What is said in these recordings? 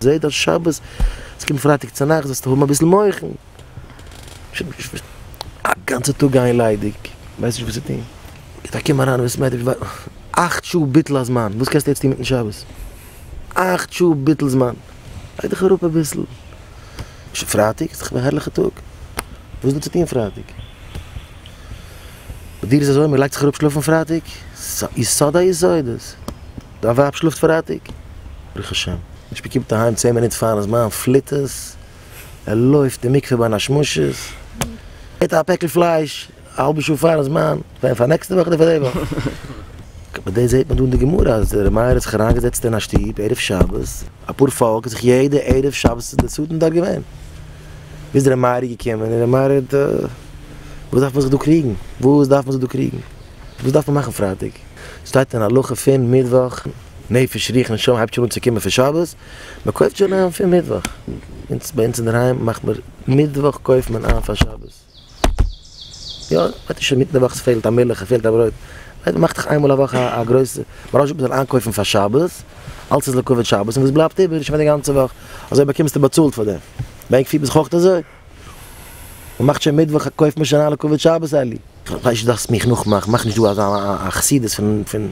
זעה דאס שבת, עס קומט פרייטאג צונאכטס זאלסטו האבן אביסל מוחין. א גאנצע טאג גיין ליידיג, ווייסט נישט וואס צו טון. געבט א קום אריין אין בית מדרש, אכט שעה ביטול הזמן, וואס קענסטו יעצט טון מיטן שבת? אכט שעה ביטול זמן, לייג דיך אראפ אביסל. שוין פרייטאג איז דאך א הערליכע טאג, וואס איז דא צו טון פרייטאג? ביי דיר איז אזוי, מען לייגט זיך אראפ שלאפן פרייטאג? ס'איז א יסוד היסודות. דיין ווייב שלאפט פרייטאג? ברוך השם. נישט מען קומט אהיים צען מינוט פארן זמן פליט עס, ער לויפט אין מקווה ביין א שמשות, געט א פעקל פלייש א האלבע שעה פארן זמן, ווען פאר נעקסטע וואך אדער פאר די וואך? ביי דעם זעט מען דא אין די גמרא אז ר' מאיר האט זיך אריין געזעצט אין א שטוב ערב שבת, אפאר פאלק האט זיך יעדע ערב שבת איז די סדן דארט געווען, ביז ר' מאיר איז געקומען און ר' מאיר האט, וואס דארף מען זיך דא קריגן? וואס דארף מען זיך דא קריגן? וואס דארף מען מאכן פרייטאג? ס'שטייט אין הלכה פון מיטוואך, נפש רוח נשמה הייבט שוין אן צו קומען פון שבת, מ'קויפט שוין איין פון מיטוואך, אונז ביי אונז אינדערהיים מאכט מען מיטוואך קויפט מען איין פאר שבת, יא וועט איר שוין מיט נעוואך ס'פעלט א מילך ס'פעלט א ברויט, ווייל מ'מאכט דאך איינמאל א וואך א א גרויסע מרז'שע מ'זאל איינקויפן פאר שבת, אלס איז לכבוד שבת און וואס בלייבט איבער איז שוין פאר די גאנצע וואך, אזוי באקומסטו באצאלט פאר דעם, בענק פירט מען זיך אויכט אזוי? מען מאכט שוין מיטוואך א קויפט מען שוין אלע כבוד שבת אלי. כ'ווייס נישט דארפסט מיך נאכמאכן, מאך נישט דא אזא א חסידות פון פון,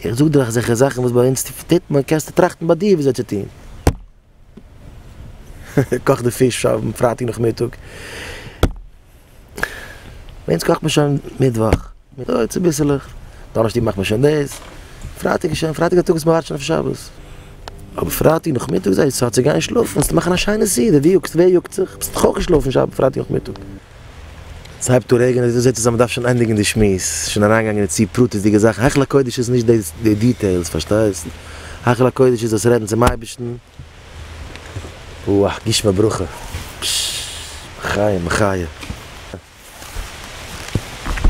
איך זאג דיר אזעלכע זאכן וואס ביי אונז טוט מען, קענסטו טראכטן ביי דיר ווי אזוי צו טון. קאך די פיש אויפן פרייטאג נאכמיטאג. ביי אונז קאכט מען שוין מיטוואך מיטאג צוביסלעך, דאנערשטאג מאכט מען שוין דאס, פרייטאג איז שוין פרייטאג א טאג וואס מ'ווארט שוין אויף שבת, אבער פרייטאג נאכמיטאג זייט צייט צו גיין שלאפן, ווילסט מאכן א שיינע סעודה, ווי יאגסט ווער יאגט זיך, ווילסט דאך אויך געשלאפן שב פרייטאג נאכמיטאג. ס'הייבט אן רעגענען, דו זעצט צו אז מ'דארף שוין ענדיגן די שמועס, שוין אריינגעגאנגען אין צו פרטית'דיגע זאכן, היכל הקודש איז נישט די דיטעילס פארשטייסט, היכל הקודש איז דאס רעדן צום אייבערשטן, וואו גשמי ברכה. פששש. מחיה מחיה.